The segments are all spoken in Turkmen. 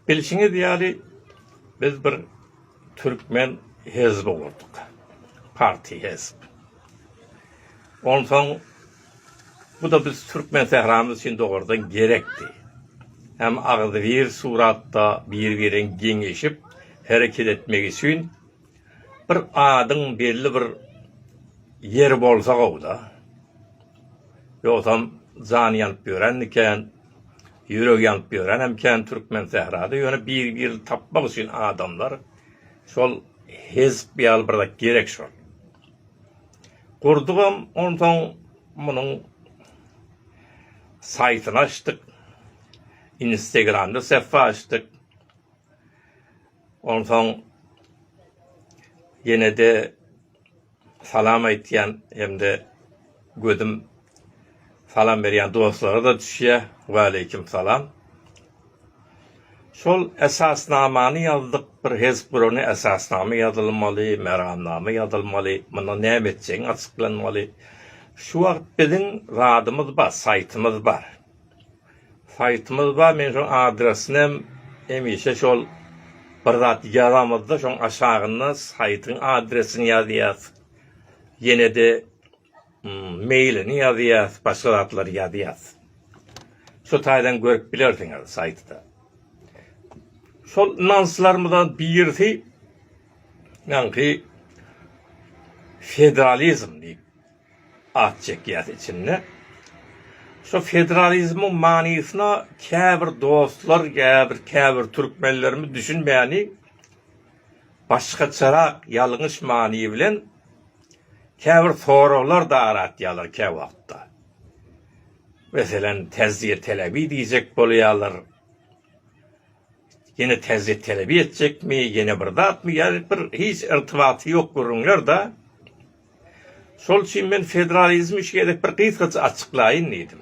Bilşiňiz ýaly, biz bir türkmen hezbi gurdyk. Parti hezb. Onsoň bu-da biz türkmen sähramyz üçin dogardan gerekdi. Hem agzybir suratda bir-birleň geňeşip hereket etmegi üçin Bir adyň belli bir ýeri bolsa gowy-da. Ýogsam jany ýanyp ýörenmi kän, ýüregi ýanyp ýörenem kän türkmen sährada. Ýöne bir-birini tapmak üçin adamlar şol hezp ýaly bir zat gerek şol. Gurdugam, onsoň munuň saýtyny açdyk, instegramda sähfä açdyk. Onsoň ýene-de salam aýtýan hem-de gözüm salam berýän dostlara-da düşýär. Waleýkim salam. Şol esasnamany ýazdyk, bir hezp gurany esasnama ýazylmaly, meramnama ýazylmaly, mundan näme etjegiň açyklanmaly. Şu wagt biziň zadymyz bar, saýtymyz bar. Saýtymyz bar men şoň adresini hem hemişe şol bir zat ýazamyzda şoň aşagyna saýtyň adresini ýazýas ýenede meýlini ýazýas başga zatlary ýazýas şo taýdan görüp bilersiňiz saýtda şol nyslarymyzdan birisi ýaňky federalizm diýip. At çekýäs içinde. Şu federalizmiň manysyna käbir dostlar, käbir käbir türkmenlerimiz düşünmäni başgaçarak ýalňyş many bilen käbir soraglar da aratýalar kä wagtda. Meselem täzýe telebi diýjek bolýalar. Ýene täzýe telebi etjekmi, ýene bir zatmy ýa bir hiç irtibaty ýok gürrüňler da. Şol üçin men federalizmi üç gezek bir gysgaça açyklaýyn diýdim.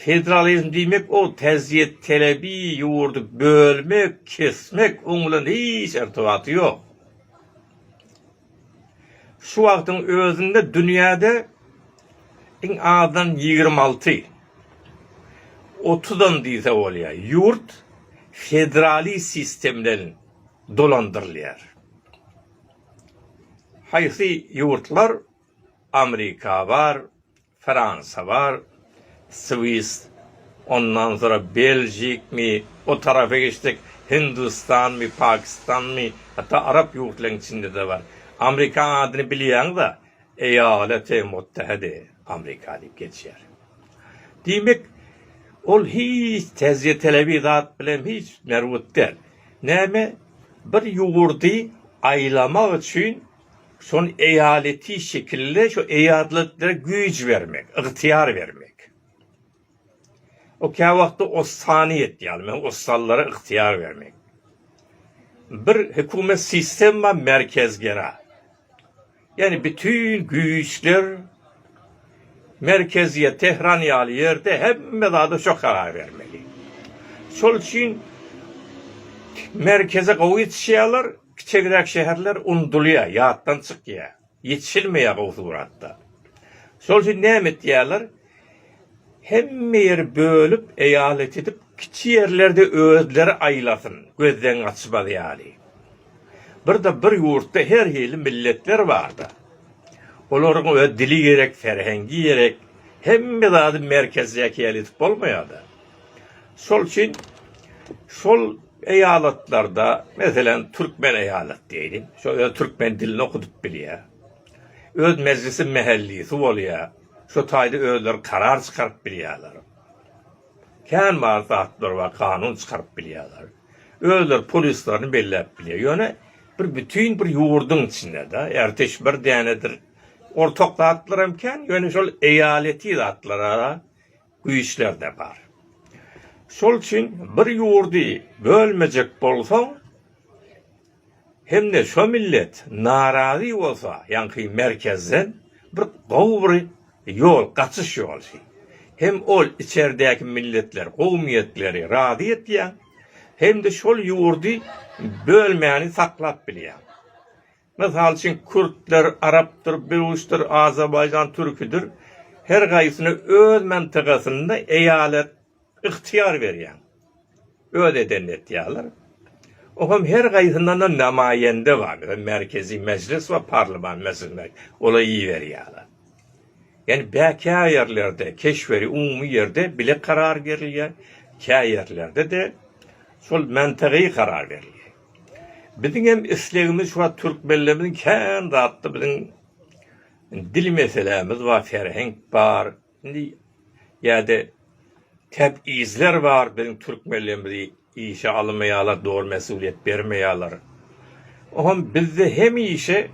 Federalizm diýmek o täzýet talebi ýurdy bölmek, kesmek, oň bilen hiç irtybaty ýok. Şu wagtyň özünde dünýäde iň azdan ýigrimi alty, otuzam diýse bolýar, ýurt federaliz sistem bilen dolandyrylýar. Haýsy ýurtlar Amrika bar Fransa bar Swis ondan sonra Beljik mi o tarapa geçsek Hindustan mi Pakistan mi hatda Arap ýurtlaryň içinde de bar Amrika adyny bilýäňiza Eýala teý motdähedi Amrika diýip geçýär. Diýmek, ol hiç tezýetelebi zat bilen hiç merwut däl. Näme, bir ýurdy aýlamak üçin şol eýaleti şekilli, şo eýaletleri güýç bermek, ygtyýar bermek. O käwagtda ossany etýär, men ossanlara ygtyýar bermeýin. Bir hökümet sistema merkezgera. Ýagny bütin güýçler merkeziýe, Tehran ýaly ýerde hemme zada şo karar bermeli. Şol üçin merkeze gowy ýetişýärler, kiçegiräk şäherler unudylýar, ýatdan çykýar. Ýetişilmeýär gowsy Myratda. Şol üçin näme etýärler? Hemme ýeri bölüp, eýalet edip, kiçi ýerlerde özleri aýlasyn, gözden gaçmaz ýaly. Bir-de bir ýurtda her hili milletler bar-da. Olaryň öz dili gerek, ferhengi gerek. Hemme zady merkezde eýalet edip bolmaýar-da. Şol üçin şol eýalatlarda, meselem, türkmen eýalat diýeýin, şo öz türkmen dilini okudyp bilýär. Öz mejlisi mähellisi bolýar. Şo taýda özleri karar çykaryp bilýärler. Kän bar zatlar bar, kanun çykaryp bilýärler. Özleri polislerini belläp bilýär. Ýöne bir bütin bir ýurduň içinde-de, erteş bir dänedir. Ortak zatlar hem kän, ýöne şol eýaleti zatlara güýçler-de bar. Şol üçin bir ýurdy bölmejek bolsaň hem-de şo millet narazy bolsa, ýaňky merkezden bir gowy bir ýol, gaçyş ýoly. Hem ol içerdäki milletler, kowumiyetleri razy etýäň, hem-de şol ýurdy bölmäni saklap bilýäň. Mysal üçin, kürtler, arapdyr, böwüşdir, azerbaýjan türkidir, her gaýsyna öz mantygasynda eýalat ygtyýar berýär. Öz edenini etýärler. O hem her gaýsyndan-da namaýende bar. Meselem, Merkezi Mejlis we Parlament Mejlisine olar iberýärler. Ýani bä kä ýerlerde keşweri umumy ýerde bile karar berilýär, kä ýerlerde-de şol mantygy karar berilýär. Biziň hem islegimiz şu wagt türkmenlerimiziň kän zatda biziň dil meselämiz bar, ferhenk bar, indi ýa-da tebizler bar, biziň türkmenlerimizi işe almaýarlar, dogry mesulyýet bermeýärler. O hem bizde hemişe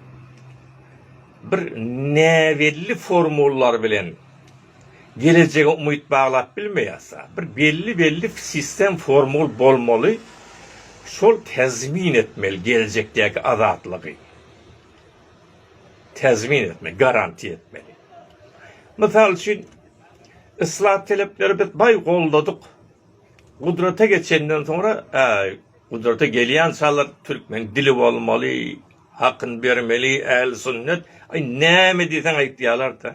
bir näbelli formullar bilen. Gelejege umyt baglap bilmeýärsa, bir belli belli sistem formul bolmaly, şol tezmin etmeli geljekdäki azatlygy. Tezmin etmeli, garantiýa etmeli. Mysal üçin, yslah telepleri biz baý goldadyk. Gudrata geçenden soňra, äý, gudrata gelýän çalar türkmen dili bolmaly, hakyny bermeli, ähli sünnet, aý näme diýseň aýtýalar-da.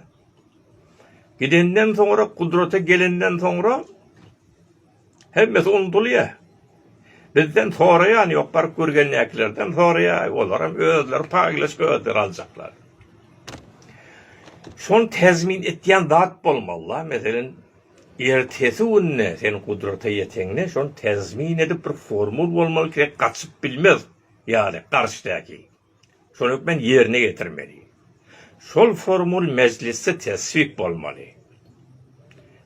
Gidenden soňra, gudraty gelenden soňra hemmesi unudylýar. Bizden soraýany ýok, baryp görgändäkilerden soraýar, olaram özleri paýlaşyp özleri aljaklar. Şony täzmin etýän zat bolmaly-la, meselem, ertesi günde sen gudrata ýeteňde şony täzmin edip bir formul bolmaly ki, gaçyp bilmez ýaly garşydaky. Şol hökmany ýerine ýetirmeli. Şol formul mejlisde teswip bolmaly.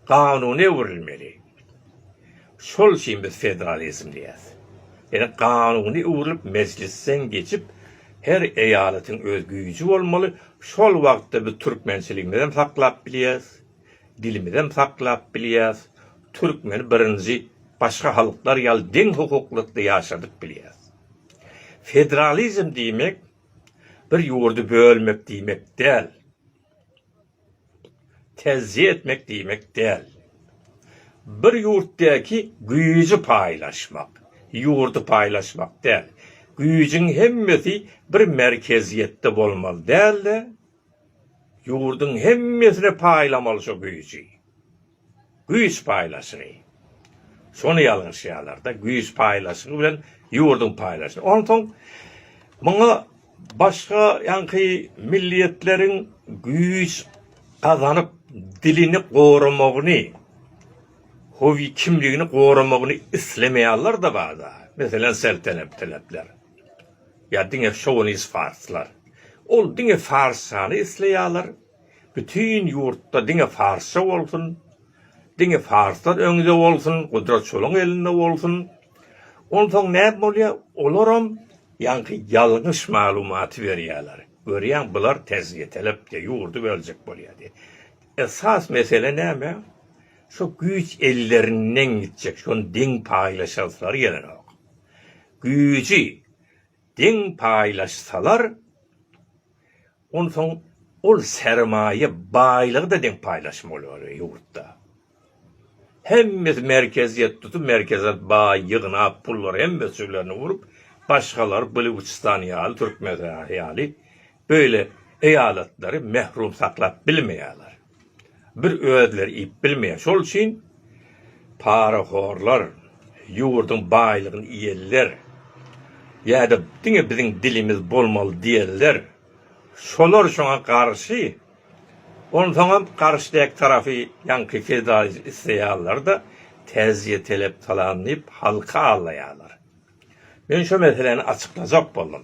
Kanuna öwrülmeli. Şol üçin biz federalizm diýýäs. Ýani kanuna öwrülip mejlisden geçip her eýalatyň öz güýji bolmaly, şol wagtda biz türkmençiligimizem saklap bilýäs, dilimizem saklap bilýäs, türkmeni birinji başga halklar ýaly deň hukuklykda ýaşadyp bilýäs. Federalizm diýmek bir ýurdy bölmek diýmek däl. Tejzýe etmek diýmek däl. Bir ýurtdaky güýji paýlaşmak, ýurdy paýlaşmak däl. Güýjüň hemmesi bir merkeziýetde bolmaly däl-de, ýurduň hemmesine paýlamaly şo güýji. Güýç paýlaşygy. Şony ýalňyşýarlar-da, güýç paýlaşygy bilen ýurduň paýlaşygy. Onsoň muňa başga ýaňky milliýetleriň güýç gazanyp, dilini goramagyny, howi kimligini goramagyny islemeýärler-de bada. Meselem, selteneptelepler ýa diňe şowinis farslar. Ol diňe fars şany isleýärler. Bütin ýurtda diňe farsça bolsun, diňe farslar öňde bolsun, gudrat şolaň elinde bolsun. Onsoň näme bolýar? Olaram ýaňky ýalňyş maglumaty berýärler. Görýäň, bular tez ýetelep diýip, ýurdy böljek bolýar diýip. Esas mesele näme? Şu güýç ellerinden gitjek, şony deň paýlaşasylary gelenok. Güýji deň paýlaşsalar, Onsoň ol sermaýa baýlygy-da deň paýlaşym bolýar ýurtda. Hemmesi merkeziýet tutup, merkeziýet baý ýygnap, pullary hemmesi jüblerini urup, başgalary Bluçistan ýaly, Türkmenistan ýaly beýle eýalatlary mährum saklap bilmeýärler. Bir özleri iýip bilmeýär. Şol üçin parahorlar, ýurduň baýlygyny iýenler ýa-da diňe biziň dilimiz bolmaly diýenler şolar şoňa garşy. Onsoňam garşy dek tarapy ýaňky federalizm isleýänler-de täzje telep salan diýip halky aldaýarlar. Men şo meseläni açyklajak boldum.